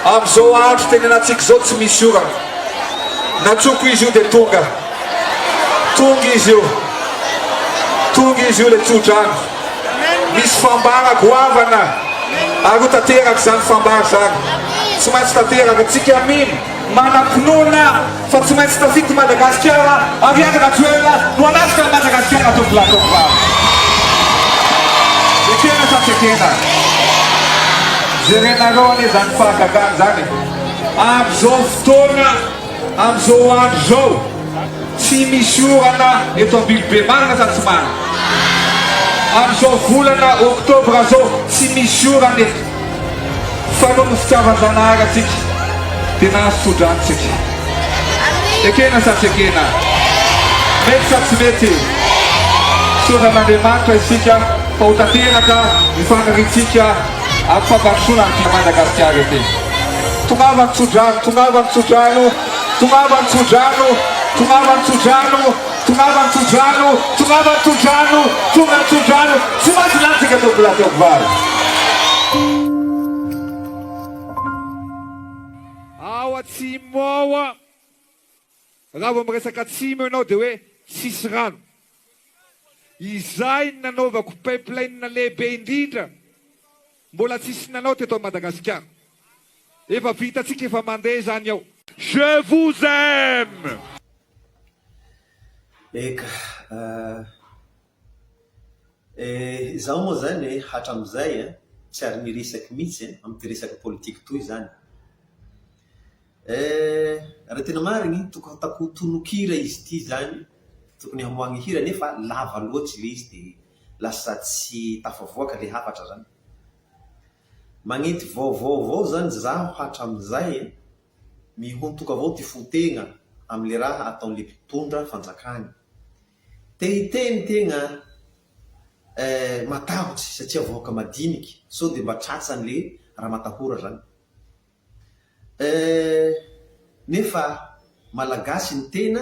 Amin'izao andro tenenantsika izao tsy misy orana. Natsoko izy io dia tonga. Tonga izy io. Tonga izy io ilay tsodrano. Misy fambara goavana aroa tanteraka izany fambara izany. Tsy maintsy tanteraka. Tsika mino. Manam-pinoana fa tsy maintsy tafiditra i Madagasikara ary Andry Rajoelina no hanatitra an'i Madagasikara tovolahy tovovavy. Ekena sa tsy ekena? Jerenareo anie izany fahagagana izany e! Amin'izao fotoana, amin'izao andro izao, tsy misy orana eto Ambilobe, marina sa tsy marina? Amin'izao volana oktobra izao, tsy misy orana eto. Fa noho ny fitiavan-dRanahary antsika dia nahazo tso-drano isika. Ekena sa tsy ekena? Mety sa tsy mety? Misaotra an'Andriamanitra isika fa ho tanteraka ny faniriantsika amin'ny fampandrosoana an'ity Madagasikara ity. Tongava ny tso-drano, tongava ny tso-drano, tongava ny tso-drano, tongava ny tso-drano. Tongava ny tsodrano, tongava ny tsodrano, tonga ny tsodrano, tsy maintsy lanintsika teo Bla teo Bla. Ao atsimo ao an! Raha vao miresaka atsimo ianao dia hoe tsisy rano. Izay no nanaovako pipeline lehibe indrindra. Mbola tsisy nanao teto Madagasikara. Efa vitantsika efa mandeha zany ao. Je vous aime. Eka eh, izaho moa izany eh, hatramin'izay eh, tsy ary miresaky mihitsy eh, amin'ity resaka politique toy izany eh. Raha tena marigny, tokony hataoko tononkira izy ity izany, tokony hamoahagna hira, nefa lava loatry ilay izy dia lasa tsy tafavoaka le hafatra zany. Magnenty vaovao avao zany zaho hatramizay e! Mihontoka avao ty fo tegna amle raha ataonle mpitondra fanjakana. Te hiteny tegna eh matahotry satria vahoaka madiniky sao de mba tratsanle raha matahora zany eh! Nefa malagasy ny tena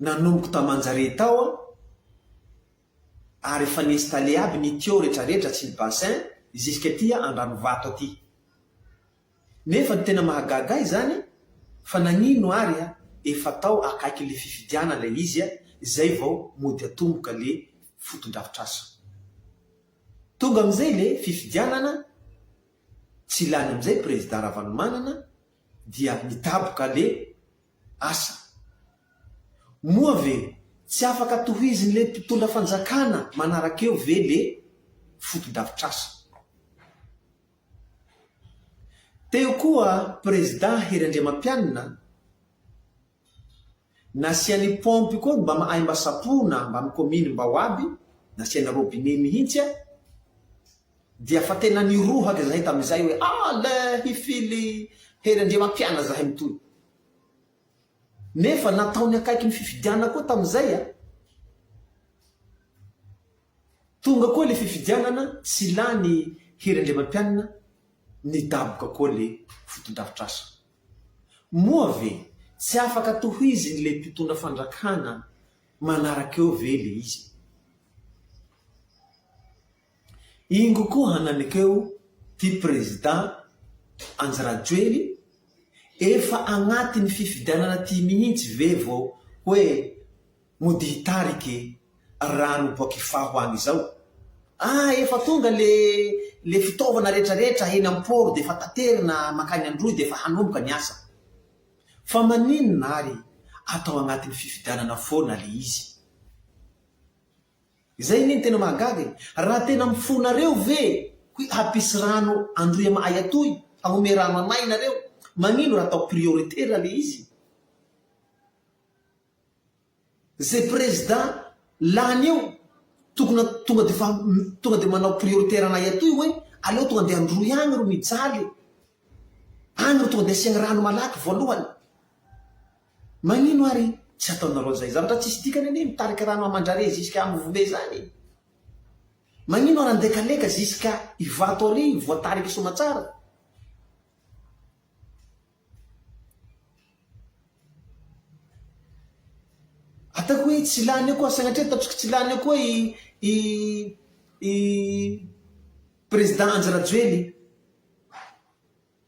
Nanomboka tam Anjare tao aho ary efa ni installer aby ny tuyau rehetra rehetra sy ny bassin jusqu'aty Andranovato aty. Nefa ny tena mahagaga ahy zany fa nagnino ary a efa tao akaiky le fifidianana le izy a zay vao mody atomboka le fotodrafitrasa. Tonga amizay le fifidianana tsy lany amizay Prezida Ravalomanana dia nidaboka le asa. Moa ve tsy afaka tohizin'le mpitondra fanjakana manaraka eo ve le fotodafitrasa? Teo koa prezida Hery Andriamampianina nasiany paompy koa mba mahay mba sapoina mba am kominy mba ho aby, nasiany robinet mihintsy a! dia fa tena nirohaka izahay tamin'izay hoe, Ah, le hifily Hery Andriamampiana izahay mitohy. Nefa nataony akaiky ny fifidianana koa tamin'izay a. Tonga koa ilay fifidianana, tsy lany Hery Andriamampianina, nidaboka koa ilay fotodrafitrasa. Moa ve tsy afaka tohizin'ilay mpitondra fandrakana manaraka eo ve ilay izy? Ingo koa hananekeo ty président Andry Rajoely efa agnatiny fifidianana ty mihintsy ve vao hoe mody hitarike rano boak ifaho agny zao ah efa tonga le le fitaovana retra retra eny am port defa taterina makagny androy defa hanomboka ny asa fa maninona ary atao agnatiny fifidianana foana le izy. Izay anie no tena mahagaga e! Raha tena mifona reo ve hoy hampisy rano andriama ay atoy hanome rano anay nareo magnino raha atao priorité ra le izy ze prezda lany eo tokona tonga de fa tonga de manao priorité ranay atoy hoe aleo tonga de androy agny ro mijaly agny ro tonga de asiagny rano malaky voalohany Manino ary tsy ataonareo an'izay? Zavatra tsisy dikany anie mitarika rano aman-drare ziska am vole izany e! Manino ary andeha kaleka ziska Ivato ary voatarika somatsara? Ataoko hoe tsy lany eo koa sagnatria ataontsika tsy lany eo koa i i i Président Andry Rajoely.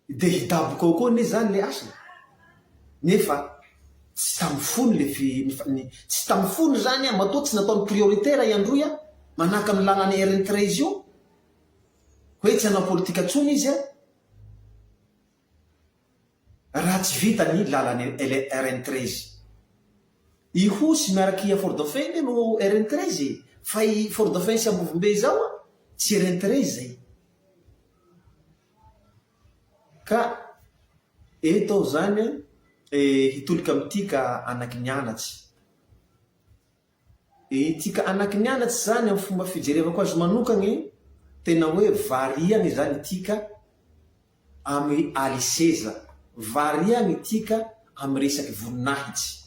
Dia hidaboka ao koa anie izany ilay hasina. Nefa tsy tamin'ny fony ilay fi, ny, tsy tamin'ny fony izany an, matoa tsy nataony priorité raha i Androy an, manahaka ny lalan'i Erin-Trezy io, hoe tsy hanao politika intsony izy an, raha tsy vita ny lalan'i Erin-Trezy. Ihosy miaraka i Afori-Dauphin anie no Erin-Trezy e, fa i Fori-Dauphin sy Ambovombe izao an, tsy Erin-Trezy izay. Ka eto aho izany e hitolika amin'ity ka anaky ny anatsy. Ity ka anaky ny anatsy izany amin'ny fomba fijerevako azy manokana tena hoe variana izany ity ka amin'ny aliseza, variana ity ka amin'ny resaky voninahitsy.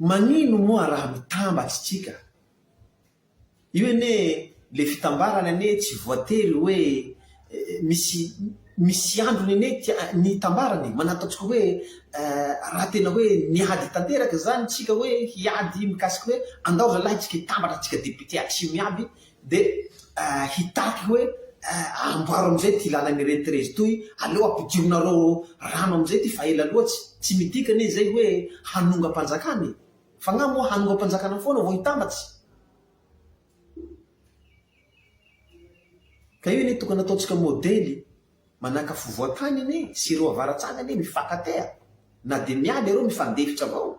Manino moa raha mitambatsy tsika? Io anie le fitambarany anie tsy voatery hoe misy misy androny anie ty ny hitambarana e! Manano ataontsika hoe raha tena hoe miady tanteraka izany tsika hoe hiady mikasika hoe andao zalahy tsika hitambatra tsika député atsimo iaby Dia hitaky hoe amboaro amin'izay ity lalana irery Terezy itoy, aleo ampidirinareo rano amin'izay ity fa ela loatsy. Tsy midika anie izay hoe hanongam-panjakana e! F'angaha moa hanongam-panjakana foana vao hitambatsy? Ka io anie tokony ataontsika modely manahaka afovoan-tany anie sy ireo avaratsany anie mifankatea, na dia miala ireo mifandefitra avao.